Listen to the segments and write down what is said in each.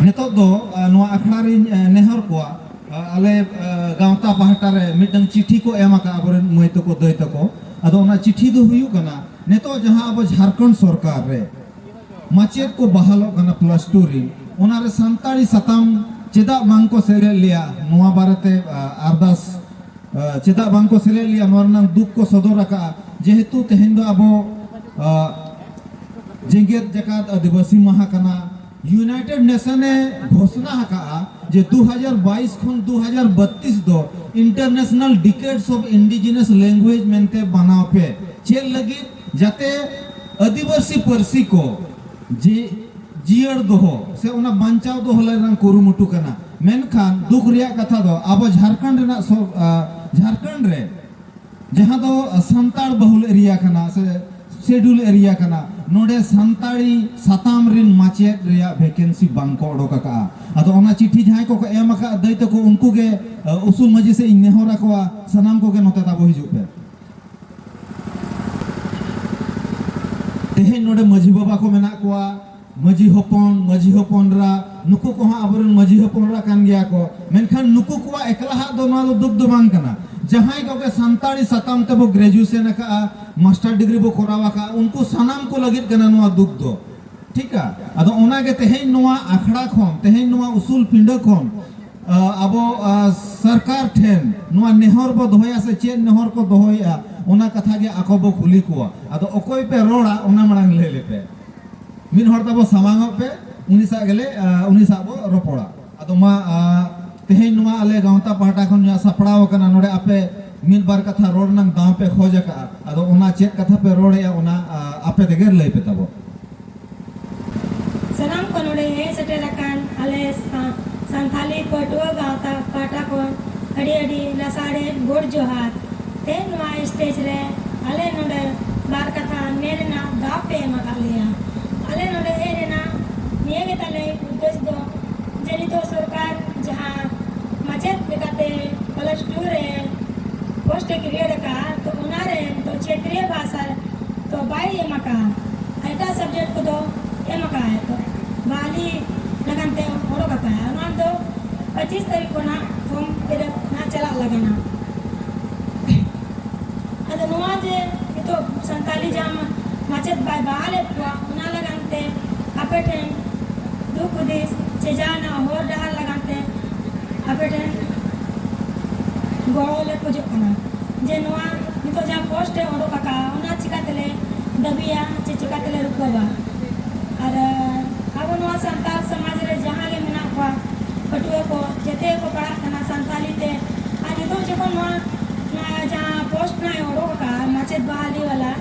ᱱᱤᱛᱚᱜ ᱫᱚ ᱱᱚᱣᱟ ᱟᱠᱷᱲᱟ ᱨᱤᱧ ᱱᱮᱦᱚᱨ ᱠᱚᱣᱟ ᱟᱞᱮ ᱜᱟᱶᱛᱟ ᱯᱟᱦᱴᱟ ᱨᱮ ᱢᱤᱫᱴᱟᱝ ᱪᱤᱴᱷᱤ ᱠᱚ ᱮᱢ ᱟᱠᱟᱫ ᱟᱵᱚᱨᱮᱱ ᱢᱟᱹᱭ ᱛᱟᱠᱚ ᱫᱟᱹᱭ ᱛᱟᱠᱚ ᱟᱫᱚ ᱚᱱᱟ ᱪᱤᱴᱷᱤ ᱫᱚ ᱦᱩᱭᱩᱜ ᱠᱟᱱᱟ ᱱᱤᱛᱚᱜ ᱡᱟᱦᱟᱸ ᱟᱵᱚ ᱡᱷᱟᱲᱠᱷᱚᱸᱰ ᱥᱚᱨᱠᱟᱨ ᱨᱮ ᱢᱟᱪᱮᱫ ᱠᱚ ᱵᱟᱦᱟᱞᱚᱜ ᱠᱟᱱᱟ ᱯᱞᱟᱥ ᱴᱩ ᱨᱤᱱ ᱚᱱᱟ ᱨᱮ ᱥᱟᱱᱛᱟᱲᱤ ᱥᱟᱛᱟᱢ ᱪᱮᱫᱟᱜ ᱵᱟᱝ ᱠᱚ ᱥᱮᱞᱮᱫ ᱞᱮᱭᱟ ᱱᱚᱣᱟ ᱵᱟᱨᱮᱛᱮ ᱟᱨᱫᱟᱥ ᱪᱮᱫᱟᱜ ᱵᱟᱝ ᱠᱚ ᱥᱮᱞᱮᱫ ᱞᱮᱭᱟ ᱱᱚᱣᱟ ᱨᱮᱱᱟᱜ ᱫᱩᱠ ᱠᱚ ᱥᱚᱫᱚᱨ ᱟᱠᱟᱫᱼᱟ ᱡᱮᱦᱮᱛᱩ ᱛᱮᱦᱮᱧ ᱫᱚ ᱟᱵᱚ ᱡᱮᱜᱮᱛ ᱡᱟᱠᱟᱛ ᱟᱹᱫᱤᱵᱟᱹᱥᱤ ᱢᱟᱦᱟ ᱠᱟᱱᱟ ᱭᱩᱱᱟᱭᱴᱮᱰ ᱱᱮᱥᱚᱱ ᱮ ᱜᱷᱚᱥᱱᱟ ᱟᱠᱟᱫᱼᱟ ᱡᱮ ᱫᱩ ᱦᱟᱡᱟᱨ ᱵᱟᱭᱤᱥ ᱠᱷᱚᱱ ᱫᱩ ᱦᱟᱡᱟᱨ ᱵᱟᱹᱛᱛᱤᱥ ᱫᱚ International Decades of Indigenous Languages ᱢᱮᱱᱛᱮ ᱢᱟᱱᱟᱣ ᱯᱮ᱾ ᱪᱮᱫ ᱞᱟᱹᱜᱤᱫ? ᱡᱟᱛᱮ ᱟᱹᱫᱤᱵᱟᱹᱥᱤ ᱯᱟᱹᱨᱥᱤ ᱠᱚ ᱡᱮ ᱡᱤᱭᱟᱹᱲ ᱫᱚᱦᱚ ᱥᱮ ᱚᱱᱟ ᱵᱟᱧᱪᱟᱣ ᱫᱚᱦᱚ ᱞᱟᱹᱜᱤᱫ ᱨᱮᱱᱟᱜ ᱠᱩᱨᱩᱢᱩᱴᱩ ᱠᱟᱱᱟ᱾ ᱢᱮᱱᱠᱷᱟᱱ ᱫᱩᱠ ᱨᱮᱭᱟᱜ ᱠᱟᱛᱷᱟ ᱫᱚ ᱟᱵᱚ ᱡᱷᱟᱨᱠᱷᱚᱸᱰ ᱨᱮᱱᱟᱜ ᱡᱷᱟᱨᱠᱷᱚᱸᱰ ᱨᱮ ᱡᱟᱦᱟᱸ ᱫᱚ ᱥᱟᱱᱛᱟᱲ ᱵᱟᱹᱦᱩᱞ ᱮᱨᱤᱭᱟ ᱠᱟᱱᱟ ᱥᱮ ᱥᱮᱰᱩᱞ ᱮᱨᱤᱭᱟ ᱠᱟᱱᱟ ᱱᱚᱰᱮ ᱥᱟᱱᱛᱟᱲᱤ ᱥᱟᱛᱟᱢ ᱨᱤᱱ ᱢᱟᱪᱮᱫ ᱨᱮᱭᱟᱜ ᱵᱷᱮᱠᱮᱱᱥᱤ ᱵᱟᱝ ᱠᱚ ᱚᱰᱚᱠ ᱟᱠᱟᱜᱼᱟ ᱟᱫᱚ ᱚᱱᱟ ᱪᱤᱴᱷᱤ ᱡᱟᱦᱟᱸᱭ ᱠᱚᱠᱚ ᱮᱢ ᱟᱠᱟᱜᱼᱟ ᱫᱟᱹᱭ ᱛᱟᱠᱚ ᱩᱱᱠᱩ ᱜᱮ ᱩᱥᱩᱞ ᱢᱟᱹᱡᱷᱤ ᱥᱮ ᱤᱧ ᱱᱮᱦᱚᱨ ᱟᱠᱚᱣᱟ ᱥᱟᱱᱟᱢ ᱠᱚᱜᱮ ᱱᱚᱛᱮ ᱛᱟᱵᱚ ᱦᱤᱡᱩᱜ ᱯᱮ ᱛᱮᱦᱮᱧ ᱱᱚᱰᱮ ᱢᱟᱹᱡᱷᱤ ᱵᱟᱵᱟ ᱠᱚ ᱢᱮᱱᱟᱜ ᱠᱚᱣᱟ ᱢᱟᱹᱡᱷᱤ ᱦᱚᱯᱚᱱ ᱢᱟᱹᱡᱷᱤ ᱦᱚᱯᱚᱱᱨᱟ ᱱᱩᱠᱩ ᱠᱚᱦᱚᱸ ᱟᱵᱚᱨᱮᱱ ᱢᱟᱹᱡᱷᱤ ᱦᱚᱯᱚᱱᱨᱟ ᱠᱟᱱ ᱜᱮᱭᱟ ᱠᱚ ᱢᱮᱱᱠᱷᱟᱱ ᱱᱩᱠᱩ ᱠᱚᱣᱟᱜ ᱮᱠᱞᱟᱦᱟᱜ ᱫᱚ ᱱᱚᱣᱟ ᱫᱚ ᱫᱩᱠ ᱫᱚ ᱵᱟᱝ ᱠᱟᱱᱟ ᱡᱟᱦᱟᱸᱭ ᱠᱚᱜᱮ ᱥᱟᱱᱛᱟᱲᱤ ᱥᱟᱛᱟᱢ ᱛᱮᱵᱚ ᱜᱨᱮᱡᱩᱭᱮᱥᱚᱱ ᱟᱠᱟᱜᱼᱟ ᱢᱟᱥᱴᱟᱨ ᱰᱤᱜᱽᱨᱤ ᱵᱚ ᱠᱚᱨᱟᱣ ᱟᱠᱟᱜᱼᱟ ᱩᱱᱠᱩ ᱥᱟᱱᱟᱢ ᱠᱚ ᱞᱟᱹᱜᱤᱫ ᱠᱟᱱᱟ ᱱᱚᱣᱟ ᱫᱩᱠ ᱫᱚ ᱴᱷᱤᱠᱟ ᱟᱫᱚ ᱚᱱᱟᱜᱮ ᱛᱮᱦᱮᱧ ᱱᱚᱣᱟ ᱟᱠᱷᱲᱟ ᱠᱷᱚᱱ ᱛᱮᱦᱮᱧ ᱱᱚᱣᱟ ᱩᱥᱩᱞ ᱯᱤᱸᱰᱟᱹ ᱠᱷᱚᱱ ᱟᱵᱚ ᱥᱚᱨᱠᱟᱨ ᱴᱷᱮᱱ ᱱᱚᱣᱟ ᱱᱮᱦᱚᱨ ᱵᱚ ᱫᱚᱦᱚᱭᱟ ᱥᱮ ᱪᱮᱫ ᱱᱮᱦᱚᱨ ᱠᱚ ᱫᱚᱦᱚᱭᱮᱜᱼᱟ ᱚᱱᱟ ᱠᱟᱛᱷᱟ ᱜᱮ ᱟᱠᱚ ᱵᱚ ᱠᱩᱞᱤ ᱠᱚᱣᱟ ᱟᱫᱚ ᱚᱠᱚᱭ ᱯᱮ ᱨᱚᱲᱟ ᱚᱱᱟ ᱢᱟᱲᱟᱝ ᱞᱟᱹᱭ ᱞᱮᱯᱮ ᱢᱤᱫ ᱦᱚᱲ ᱛᱟᱵᱚ ᱥᱟᱢᱟᱝ ᱚᱜ ᱯᱮ ᱩᱱᱤ ᱥᱟᱜ ᱜᱮᱞᱮ ᱩᱱᱤ ᱥᱟᱜ ᱵᱚ ᱨᱚᱯᱚᱲᱟ ᱟᱫᱚ ᱢᱟ ᱛᱮᱦᱮᱧ ᱱᱚᱣᱟ ᱟᱞᱮ ᱜᱟᱶᱛᱟ ᱯᱟᱦᱴᱟ ᱠᱷᱚᱱ ᱡᱟᱦᱟᱸ ᱥᱟᱯᱲᱟᱣ ᱟᱠᱟᱱᱟ ᱱᱚᱰᱮ ᱟᱯᱮ ᱢᱤᱫ ᱵᱟᱨ ᱠᱟᱛᱷᱟ ᱨᱚᱲ ᱨᱮᱱᱟᱝ ᱫᱟᱣ ᱯᱮ ᱠᱷᱚᱡ ᱟᱠᱟᱜᱼᱟ ᱟᱫᱚ ᱚᱱᱟ ᱪᱮᱫ ᱠᱟᱛᱷᱟ ᱯᱮ ᱨᱚᱲᱮᱜᱼᱟ ᱚᱱᱟ ᱟᱯᱮ ᱛᱮᱜᱮ ᱞᱟᱹᱭ ᱯᱮ ᱛᱟᱵᱚ ᱥᱟᱱᱟᱢ ᱠᱚ ᱱᱚᱰᱮ ᱦᱮᱡ ᱥᱮᱴᱮᱨ ᱟᱠᱟᱱ ᱟᱞᱮ ᱥᱟᱱᱛᱟᱞᱤ ᱯᱟᱹᱴᱷᱩᱣᱟᱹ ᱜᱟᱶᱛᱟ ᱯᱟᱦᱴᱟ ᱠᱷᱚᱱ ᱟᱹᱰᱤ ᱟᱹᱰᱤ ᱞᱟᱥᱟᱲᱦᱮᱫ ᱜᱚᱰ ᱡᱚᱦᱟᱨ ᱛᱮᱦᱮᱧ ᱱᱚᱣᱟ ᱥᱴᱮᱡᱽ ᱨᱮ ᱟᱞᱮ ᱱᱚᱸᱰᱮ ᱵᱟᱨ ᱠᱟᱛᱷᱟ ᱢᱮᱱ ᱨᱮᱱᱟᱜ ᱫᱟᱣ ᱯᱮ ᱮᱢ ᱟᱠᱟᱫ ᱞᱮᱭᱟ᱾ ᱟᱞᱮ ᱱᱚᱸᱰᱮ ᱦᱮᱡ ᱨᱮᱱᱟᱜ ᱱᱤᱭᱟᱹ ᱜᱮ ᱛᱟᱞᱮ ᱩᱫᱽᱫᱮᱥ ᱫᱚ ᱡᱮ ᱱᱤᱛᱚᱜ ᱥᱚᱨᱠᱟᱨ ᱡᱟᱦᱟᱸ ᱢᱟᱪᱮᱛ ᱞᱮᱠᱟᱛᱮ ᱯᱞᱟᱥ ᱴᱩ ᱨᱮ ᱯᱳᱥᱴ ᱮ ᱠᱨᱤᱭᱮᱴ ᱟᱠᱟᱫᱼᱟ ᱛᱚ ᱚᱱᱟ ᱨᱮ ᱱᱤᱛᱚᱜ ᱪᱷᱮᱛᱨᱤᱭᱚ ᱵᱷᱟᱥᱟ ᱛᱚ ᱵᱟᱭ ᱮᱢ ᱟᱠᱟᱫᱼᱟ᱾ ᱮᱴᱟᱜ ᱥᱟᱵᱽᱡᱮᱠᱴ ᱠᱚᱫᱚ ᱮᱢ ᱟᱠᱟᱫᱼᱟᱭ ᱛᱚ ᱵᱟᱦᱟᱞᱤ ᱞᱟᱹᱜᱤᱫ ᱛᱮ ᱚᱰᱚᱠ ᱟᱠᱟᱫᱼᱟᱭ ᱚᱱᱟ ᱫᱚ ᱯᱚᱸᱪᱤᱥ ᱛᱟᱹᱨᱤᱠᱷ ᱠᱷᱚᱱ ᱱᱟᱦᱟᱜ ᱯᱷᱚᱨᱢ ᱯᱷᱤᱞᱟᱯ ᱱᱟᱦᱟᱜ ᱪᱟᱞᱟᱜ ᱞᱟᱹᱜᱤᱫᱼᱟ᱾ ᱟᱫᱚ ᱱᱚᱣᱟ ᱡᱮ ᱱᱤᱛᱚᱜ ᱥᱟᱱᱛᱟᱞᱤ ᱡᱟᱦᱟᱸ ᱢᱟᱪᱮᱫ ᱵᱟᱭ ᱵᱟᱦᱟᱞᱮᱫ ᱠᱚᱣᱟ ᱚᱱᱟ ᱞᱟᱜᱟᱱ ᱛᱮ ᱟᱯᱮ ᱴᱷᱮᱱ ᱫᱩᱠ ᱦᱩᱫᱤᱥ ᱥᱮ ᱡᱟᱦᱟᱱᱟᱜ ᱦᱚᱨ ᱰᱟᱦᱟᱨ ᱞᱟᱜᱟᱱ ᱛᱮ ᱟᱯᱮ ᱴᱷᱮᱱ ᱜᱚᱲᱚ ᱞᱮ ᱠᱷᱚᱡᱚᱜ ᱠᱟᱱᱟ ᱡᱮ ᱱᱚᱣᱟ ᱱᱤᱛᱚᱜ ᱡᱟᱦᱟᱸ ᱯᱳᱥᱴ ᱮ ᱚᱰᱚᱠ ᱟᱠᱟᱫᱼᱟ ᱚᱱᱟ ᱪᱤᱠᱟ ᱛᱮᱞᱮ ᱫᱟᱹᱵᱤᱭᱟ ᱪᱮ ᱪᱤᱠᱟ ᱛᱮᱞᱮ ᱨᱩᱠᱟᱹᱣᱟ ᱟᱨ ᱟᱵᱚ ᱱᱚᱣᱟ ᱥᱟᱱᱛᱟᱲ ᱥᱚᱢᱟᱡᱽ ᱨᱮ ᱡᱟᱦᱟᱸ ᱜᱮ ᱢᱮᱱᱟᱜ ᱠᱚᱣᱟ ᱯᱟᱹᱴᱷᱩᱣᱟᱹ ᱠᱚ ᱡᱮᱛᱮ ᱠᱚ ᱯᱟᱲᱦᱟᱜ ᱠᱟᱱᱟ ᱥᱟᱱᱛᱟᱞᱤ ᱛᱮ ᱟᱨ ᱱᱤᱛᱚᱜ ᱡᱚᱠᱷᱚᱱ ᱱᱚᱣᱟ ᱱᱚᱣᱟ ᱡᱟᱦᱟᱸ ᱯᱳᱥᱴ ᱱᱟᱭ ᱚᱰᱚᱠ ᱟᱠᱟᱫᱼᱟ ᱢᱟᱪᱮᱫ ᱵᱟᱦᱟᱞᱤ ᱵᱟᱞᱟ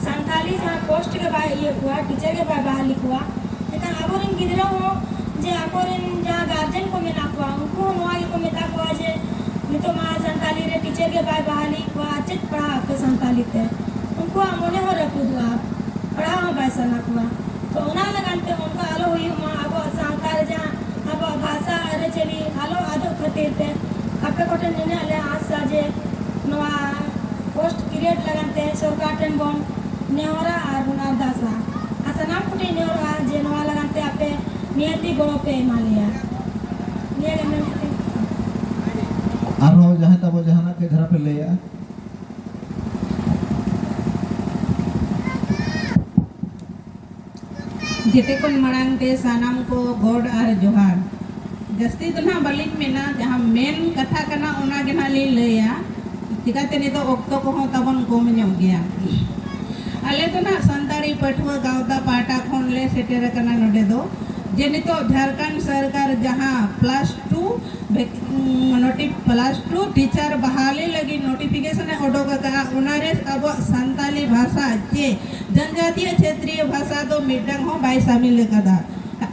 ᱥᱟᱱᱛᱟᱞᱤ ᱡᱟᱦᱟᱸ ᱯᱳᱥᱴ ᱜᱮ ᱵᱟᱭ ᱤᱭᱟᱹ ᱠᱚᱣᱟ ᱴᱤᱪᱟᱨ ᱜᱮ ᱵᱟᱭ ᱵᱟᱦᱟᱞᱤ ᱠᱚᱣᱟ ᱮᱱᱠᱷᱟᱱ ᱟᱵᱚᱨᱮᱱ ᱜᱤᱫᱽᱨᱟᱹ ᱦᱚᱸ ᱡᱮ ᱟᱠᱚᱨᱮᱱ ᱡᱟᱦᱟᱸ ᱜᱟᱨᱡᱮᱱ ᱠᱚ ᱢᱮᱱᱟᱜ ᱠᱚᱣᱟ ᱩᱱᱠᱩ ᱦᱚᱸ ᱱᱚᱣᱟ ᱜᱮᱠᱚ ᱢᱮᱛᱟ ᱠᱚᱣᱟ ᱡᱮ ᱱᱤᱛᱚᱜ ᱢᱟ ᱥᱟᱱᱛᱟᱞᱤ ᱨᱮ ᱴᱤᱪᱟᱨ ᱜᱮ ᱵᱟᱭ ᱵᱟᱦᱟᱞᱤ ᱠᱚᱣᱟ ᱟᱨ ᱪᱮᱫ ᱯᱟᱲᱦᱟᱜ ᱟᱯᱮ ᱥᱟᱱᱛᱟᱞᱤ ᱛᱮ ᱩᱱᱠᱩᱣᱟᱜ ᱢᱚᱱᱮ ᱦᱚᱸ ᱨᱟᱹᱯᱩᱫᱚᱜᱼᱟ ᱯᱟᱲᱦᱟᱣ ᱦᱚᱸ ᱵᱟᱭ ᱥᱟᱱᱟ ᱠᱚᱣᱟ ᱛᱚ ᱚᱱᱟ ᱞᱟᱹᱜᱤᱫ ᱛᱮ ᱚᱱᱠᱟ ᱟᱞᱚ ᱦᱩᱭᱩᱜ ᱢᱟ ᱟᱵᱚᱣᱟᱜ ᱥᱟᱶᱛᱟ ᱨᱮ ᱡᱟᱦᱟᱸ ᱟᱵᱚᱣᱟᱜ ᱵᱷᱟᱥᱟ ᱟᱹᱨᱤᱪᱟᱹᱞᱤ ᱟᱞᱚ ᱟᱫᱚᱜ ᱠᱷᱟᱹᱛᱤᱨ ᱛᱮ ᱟᱯᱮ ᱠᱚᱴᱷᱮᱱ ᱱᱤᱱᱟᱹᱜ ᱞᱮ ᱟᱸᱥᱟ ᱡᱮ ᱱᱚᱣᱟ ᱯᱳᱥᱴ ᱠᱨᱤᱭᱮᱴ ᱞᱟᱹᱜᱤᱫ ᱛᱮ ᱥᱚᱨᱠᱟᱨ ᱴᱷᱮᱱ ᱵᱚᱱ ᱱᱮᱦᱚᱨᱟ ᱟᱨ ᱵᱚᱱ ᱟᱨᱫᱟᱥᱟ ᱟᱨ ᱥᱟᱱᱟᱢ ᱠᱚᱴᱷᱮᱱ ᱱᱮᱦᱚᱨᱚᱜᱼᱟ ᱡᱮ ᱱᱚᱣᱟ ᱞᱟᱹᱜᱤᱫ ᱛᱮ ᱟᱯᱮ ᱱᱤᱦᱟᱹᱛᱤ ᱜᱚᱲᱚ ᱯᱮ ᱮᱢᱟ ᱞᱮᱭᱟ ᱱᱤᱭᱟᱹ ᱜᱮ ᱢᱮᱱ ᱠᱟᱛᱮ ᱟᱨᱦᱚᱸ ᱡᱟᱦᱟᱸᱭ ᱛᱟᱵᱚ ᱡᱟᱦᱟᱱᱟᱜ ᱠᱟᱹᱡ ᱫᱷᱟᱨᱟ ᱯᱮ ᱞᱟᱹᱭᱟ ᱡᱮᱛᱮ ᱠᱷᱚᱱ ᱢᱟᱲᱟᱝ ᱛᱮ ᱥᱟᱱᱟᱢ ᱠᱚ ᱜᱚᱰ ᱟᱨ ᱡᱚᱦᱟᱨ᱾ ᱡᱟᱹᱥᱛᱤ ᱫᱚ ᱱᱟᱦᱟᱜ ᱵᱟᱹᱞᱤᱧ ᱢᱮᱱᱟ, ᱡᱟᱦᱟᱸ ᱢᱮᱱ ᱠᱟᱛᱷᱟ ᱠᱟᱱᱟ ᱚᱱᱟ ᱜᱮ ᱱᱟᱦᱟᱜ ᱞᱤᱧ ᱞᱟᱹᱭᱟ, ᱪᱤᱠᱟᱹᱛᱮ ᱱᱤᱛᱚᱜ ᱚᱠᱛᱚ ᱠᱚᱦᱚᱸ ᱛᱟᱵᱚᱱ ᱠᱚᱢ ᱧᱚᱜ ᱜᱮᱭᱟ᱾ ᱟᱞᱮ ᱫᱚ ᱱᱟᱦᱟᱜ ᱥᱟᱱᱛᱟᱲᱤ ᱯᱟᱹᱴᱷᱩᱣᱟᱹ ᱜᱟᱶᱛᱟ ᱯᱟᱦᱴᱟ ᱠᱷᱚᱱ ᱞᱮ ᱥᱮᱴᱮᱨ ᱟᱠᱟᱱᱟ ᱱᱚᱰᱮ ᱫᱚ ᱡᱮ ᱱᱤᱛᱚᱜ ᱡᱷᱟᱨᱠᱷᱚᱸᱰ ᱥᱚᱨᱠᱟᱨ ᱡᱟᱦᱟᱸ ᱯᱞᱟᱥ ᱴᱩ ᱱᱚᱴᱤ ᱯᱞᱟᱥ ᱴᱩ ᱴᱤᱪᱟᱨ ᱵᱟᱦᱟᱞᱤ ᱞᱟᱹᱜᱤᱫ ᱱᱚᱴᱤᱯᱷᱤᱠᱮᱥᱚᱱ ᱮ ᱚᱰᱚᱠ ᱟᱠᱟᱫᱼᱟ ᱚᱱᱟ ᱨᱮ ᱟᱵᱚᱣᱟᱜ ᱥᱟᱱᱛᱟᱲᱤ ᱵᱷᱟᱥᱟ ᱪᱮ ᱡᱟᱱᱡᱟᱛᱤᱭᱚ ᱪᱷᱮᱛᱨᱤᱭᱚ ᱵᱷᱟᱥᱟ ᱫᱚ ᱢᱤᱫᱴᱟᱝ ᱦᱚᱸ ᱵᱟᱭ ᱥᱟᱢᱤᱞ ᱟᱠᱟᱫᱟ᱾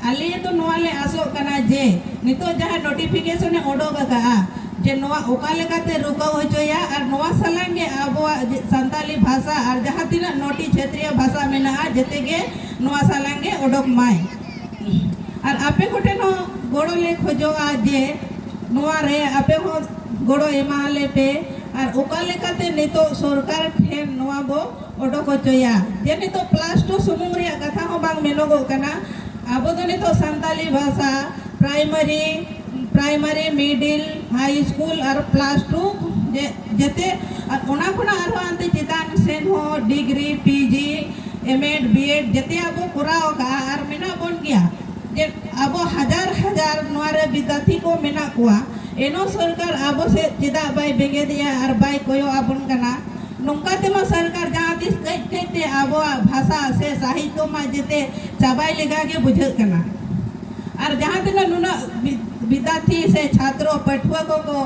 ᱟᱞᱮ ᱫᱚ ᱱᱚᱣᱟ ᱞᱮ ᱟᱥᱚᱜ ᱠᱟᱱᱟ ᱡᱮ ᱱᱤᱛᱚᱜ ᱡᱟᱦᱟᱸ ᱱᱚᱴᱤᱯᱷᱤᱠᱮᱥᱚᱱ ᱮ ᱚᱰᱚᱠ ᱟᱠᱟᱫᱼᱟ ᱡᱮ ᱱᱚᱣᱟ ᱚᱠᱟ ᱞᱮᱠᱟᱛᱮ ᱨᱩᱠᱟᱹᱣ ᱦᱚᱪᱚᱭᱟ ᱟᱨ ᱱᱚᱣᱟ ᱥᱟᱞᱟᱝ ᱜᱮ ᱟᱵᱚᱣᱟᱜ ᱥᱟᱱᱛᱟᱞᱤ ᱵᱷᱟᱥᱟ ᱟᱨ ᱡᱟᱦᱟᱸ ᱛᱤᱱᱟᱹᱜ ᱱᱚᱴᱤ ᱪᱷᱮᱛᱨᱤᱭᱚ ᱵᱷᱟᱥᱟ ᱢᱮᱱᱟᱜᱼᱟ ᱡᱮᱛᱮ ᱜᱮ ᱱᱚᱣᱟ ᱥᱟᱞᱟᱝ ᱜᱮ ᱚᱰᱚᱠ ᱢᱟᱭ᱾ ᱟᱨ ᱟᱯᱮ ᱠᱚᱴᱷᱮᱱ ᱦᱚᱸ ᱜᱚᱲᱚ ᱞᱮ ᱠᱷᱚᱡᱚᱜᱼᱟ ᱡᱮ ᱱᱚᱣᱟ ᱨᱮ ᱟᱯᱮ ᱦᱚᱸ ᱜᱚᱲᱚ ᱮᱢᱟ ᱟᱞᱮ ᱯᱮ ᱟᱨ ᱚᱠᱟ ᱞᱮᱠᱟᱛᱮ ᱱᱤᱛᱚᱜ ᱥᱚᱨᱠᱟᱨ ᱴᱷᱮᱱ ᱱᱚᱣᱟ ᱵᱚ ᱚᱰᱚᱠ ᱚᱪᱚᱭᱟ ᱡᱮ ᱱᱤᱛᱚᱜ ᱯᱞᱟᱥ ᱴᱩ ᱥᱩᱢᱩᱝ ᱨᱮᱭᱟᱜ ᱠᱟᱛᱷᱟ ᱦᱚᱸ ᱵᱟᱝ ᱢᱮᱱᱚᱜᱚᱜ ᱠᱟᱱᱟ ᱟᱵᱚ ᱫᱚ ᱱᱤᱛᱚᱜ ᱥᱟᱱᱛᱟᱞᱤ ᱵᱷᱟᱥᱟ primary primary middle high school ᱟᱨ ᱯᱞᱟᱥ ᱴᱩ ᱡᱮᱛᱮ ᱟᱨ ᱚᱱᱟ ᱠᱷᱚᱱᱟᱜ ᱟᱨᱦᱚᱸ ᱟᱱᱛᱮ ᱪᱮᱛᱟᱱ ᱥᱮᱱ ᱦᱚᱸ degree P G M Ed B Ed ᱡᱮᱛᱮᱭᱟᱜ ᱵᱚ ᱠᱚᱨᱟᱣ ᱟᱠᱟᱫᱼᱟ ᱟᱨ ᱢᱮᱱᱟᱜ ᱵᱚᱱ ᱜᱮᱭᱟ ᱡᱮ ᱟᱵᱚ ᱦᱟᱡᱟᱨ ᱦᱟᱡᱟᱨ ᱱᱚᱣᱟ ᱨᱮ ᱵᱤᱫᱽᱫᱟᱛᱷᱤ ᱠᱚ ᱢᱮᱱᱟᱜ ᱠᱚᱣᱟ ᱮᱱᱦᱚᱸ ᱥᱚᱨᱠᱟᱨ ᱟᱵᱚ ᱥᱮᱫ ᱪᱮᱫᱟᱜ ᱵᱟᱭ ᱵᱮᱸᱜᱮᱫᱮᱜᱼᱟ ᱟᱨ ᱵᱟᱭ ᱠᱚᱭᱚᱜ ᱟᱵᱚᱱ ᱠᱟᱱᱟ ᱱᱚᱝᱠᱟ ᱛᱮᱢᱟ ᱥᱚᱨᱠᱟᱨ ᱡᱟᱦᱟᱸ ᱛᱤᱥ ᱠᱟᱹᱡ ᱠᱟᱹᱡ ᱛᱮ ᱟᱵᱚᱣᱟᱜ ᱵᱷᱟᱥᱟ ᱥᱮ ᱥᱟᱦᱤᱛᱭᱚ ᱢᱟ ᱡᱮᱛᱮ ᱪᱟᱵᱟᱭ ᱞᱮᱠᱟ ᱜᱮ ᱵᱩᱡᱷᱟᱹᱜ ᱠᱟᱱᱟ ᱟᱨ ᱡᱟᱦᱟᱸ ᱛᱤᱱᱟᱹᱜ ᱱᱩᱱᱟᱹᱜ ᱵᱤᱫᱽᱫᱟᱨᱛᱷᱤ ᱥᱮ ᱪᱷᱟᱛᱨᱚ ᱯᱟᱹᱴᱷᱩᱣᱟᱹ ᱠᱚᱠᱚ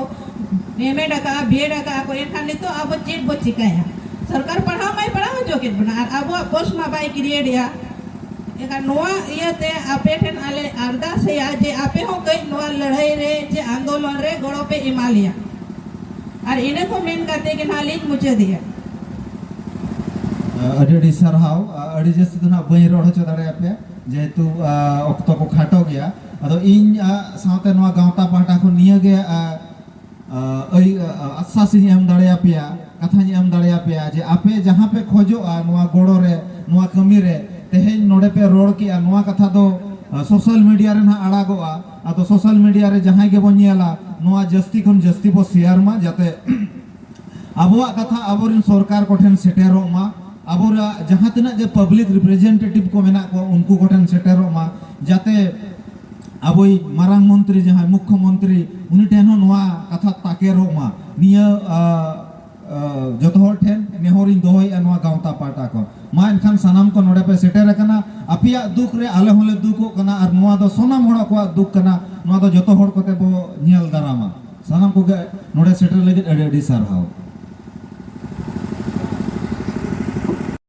ᱮᱢᱮᱰ ᱟᱠᱟᱜᱼᱟ ᱵᱤᱭᱮᱰ ᱟᱠᱟᱜᱼᱟ ᱠᱚ ᱮᱱᱠᱷᱟᱱ ᱱᱤᱛᱚᱜ ᱟᱵᱚ ᱪᱮᱫ ᱵᱚ ᱪᱤᱠᱟᱹᱭᱟ ᱥᱚᱨᱠᱟᱨ ᱯᱟᱲᱦᱟᱣ ᱢᱟᱭ ᱯᱟᱲᱦᱟᱣ ᱦᱚᱪᱚ ᱠᱮᱫ ᱵᱚᱱᱟ ᱟᱨ ᱟᱵᱚᱣᱟᱜ ᱯᱳᱥᱴ ᱢᱟ ᱵᱟᱭ ᱠᱨᱤᱭᱮᱴ ᱮᱫᱟ ᱮᱱᱠᱷᱟᱱ ᱱᱚᱣᱟ ᱤᱭᱟᱹᱛᱮ ᱟᱯᱮ ᱴᱷᱮᱱ ᱟᱞᱮ ᱟᱨᱫᱟᱥᱮᱜᱼᱟ ᱡᱮ ᱟᱯᱮ ᱦᱚᱸ ᱠᱟᱹᱡ ᱱᱚᱣᱟ ᱞᱟᱹᱲᱦᱟᱹᱭ ᱨᱮ ᱪᱮ ᱟᱱᱫᱳᱞᱚᱱ ᱨᱮ ᱜᱚᱲᱚ ᱯᱮ ᱮᱢᱟ ᱞᱮᱭᱟ ᱟᱨ ᱤᱱᱟᱹ ᱠᱚ ᱢᱮᱱ ᱠᱟᱛᱮ ᱜᱮ ᱱᱟᱦᱟᱜ ᱞᱤᱧ ᱢᱩᱪᱟᱹᱫᱮᱜᱼᱟ ᱟᱹᱰᱤ ᱟᱹᱰᱤ ᱥᱟᱨᱦᱟᱣ ᱟᱹᱰᱤ ᱡᱟᱹᱥᱛᱤ ᱫᱚ ᱱᱟᱦᱟᱜ ᱵᱟᱹᱧ ᱨᱚᱲ ᱦᱚᱪᱚ ᱫᱟᱲᱮᱭᱟᱯᱮᱭᱟ ᱡᱮᱦᱮᱛᱩ ᱚᱠᱛᱚ ᱠᱚ ᱠᱷᱟᱴᱚ ᱜᱮᱭᱟ ᱟᱫᱚ ᱤᱧ ᱥᱟᱶᱛᱮ ᱱᱚᱣᱟ ᱜᱟᱶᱛᱟ ᱯᱟᱦᱴᱟ ᱠᱷᱚᱱ ᱱᱤᱭᱟᱹ ᱜᱮ ᱟᱥᱥᱟᱥ ᱤᱧ ᱮᱢ ᱫᱟᱲᱮᱭᱟᱯᱮᱭᱟ ᱠᱟᱛᱷᱟᱧ ᱮᱢ ᱫᱟᱲᱮᱭᱟᱯᱮᱭᱟ ᱡᱮ ᱟᱯᱮ ᱡᱟᱦᱟᱸ ᱯᱮ ᱠᱷᱚᱡᱚᱜᱼᱟ ᱱᱚᱣᱟ ᱜᱚᱲᱚ ᱨᱮ ᱱᱚᱣᱟ ᱠᱟᱹᱢᱤ ᱨᱮ ᱛᱮᱦᱮᱧ ᱱᱚᱰᱮ ᱯᱮ ᱨᱚᱲ ᱠᱮᱜᱼᱟ ᱱᱚᱣᱟ ᱠᱟᱛᱷᱟ ᱫᱚ ᱥᱳᱥᱟᱞ ᱢᱤᱰᱤᱭᱟ ᱨᱮ ᱱᱟᱦᱟᱜ ᱟᱲᱟᱜᱚᱜᱼᱟ ᱟᱫᱚ ᱥᱳᱥᱟᱞ ᱢᱤᱰᱤᱭᱟ ᱨᱮ ᱡᱟᱦᱟᱸᱭ ᱜᱮᱵᱚᱱ ᱧᱮᱞᱟ ᱱᱚᱣᱟ ᱡᱟᱹᱥᱛᱤ ᱠᱷᱚᱱ ᱡᱟᱹᱥᱛᱤ ᱵᱚ ᱥᱮᱭᱟᱨ ᱢᱟ ᱡᱟᱛᱮ ᱟᱵᱚᱣᱟᱜ ᱠᱟᱛᱷᱟ ᱟᱵᱚᱨᱮᱱ ᱥᱚᱨᱠᱟᱨ ᱠᱚᱴᱷᱮᱱ ᱥᱮᱴᱮᱨᱚᱜ ᱢᱟ ᱟᱵᱚᱨᱟᱜ ᱡᱟᱦᱟᱸ ᱛᱤᱱᱟᱹᱜ ᱜᱮ ᱯᱟᱵᱽᱞᱤᱠ ᱨᱤᱯᱨᱮᱡᱮᱱᱴᱮᱴᱤᱵᱷ ᱠᱚ ᱢᱮᱱᱟᱜ ᱠᱚᱣᱟ ᱩᱱᱠᱩ ᱠᱚᱴᱷᱮᱱ ᱥᱮᱴᱮᱨᱚᱜ ᱢᱟ ᱡᱟᱛᱮ ᱟᱵᱚᱭ ᱢᱟᱨᱟᱝ ᱢᱚᱱᱛᱨᱤ ᱡᱟᱦᱟᱸᱭ ᱢᱩᱠᱠᱷᱚ ᱢᱚᱱᱛᱨᱤ ᱩᱱᱤ ᱴᱷᱮᱱ ᱦᱚᱸ ᱱᱚᱣᱟ ᱠᱟᱛᱷᱟ ᱛᱟᱠᱮᱨᱚᱜ ᱢᱟ ᱱᱤᱭᱟᱹ ᱡᱚᱛᱚ ᱦᱚᱲ ᱴᱷᱮᱱ ᱱᱮᱦᱚᱨ ᱤᱧ ᱫᱚᱦᱚᱭᱮᱫᱼᱟ ᱱᱚᱣᱟ ᱜᱟᱶᱛᱟ ᱯᱟᱦᱴᱟ ᱠᱷᱚᱱ ᱢᱟ ᱮᱱᱠᱷᱟᱱ ᱥᱟᱱᱟᱢ ᱠᱚ ᱱᱚᱰᱮ ᱯᱮ ᱥᱮᱴᱮᱨ ᱟᱠᱟᱱᱟ ᱟᱯᱮᱭᱟᱜ ᱫᱩᱠ ᱨᱮ ᱟᱞᱮ ᱦᱚᱸᱞᱮ ᱫᱩᱠᱚᱜ ᱠᱟᱱᱟ ᱟᱨ ᱱᱚᱣᱟ ᱫᱚ ᱥᱟᱱᱟᱢ ᱦᱚᱲ ᱠᱚᱣᱟᱜ ᱫᱩᱠ ᱠᱟᱱᱟ ᱱᱚᱣᱟ ᱫᱚ ᱡᱚᱛᱚ ᱦᱚᱲ ᱠᱚᱛᱮ ᱵᱚ ᱧᱮᱞ ᱫᱟᱨᱟᱢᱟ ᱥᱟᱱᱟᱢ ᱠᱚᱜᱮ ᱱᱚᱰᱮ ᱥᱮᱴᱮᱨ ᱞᱟᱹᱜᱤᱫ ᱟᱹᱰᱤ ᱟᱹᱰᱤ ᱥᱟᱨᱦᱟᱣ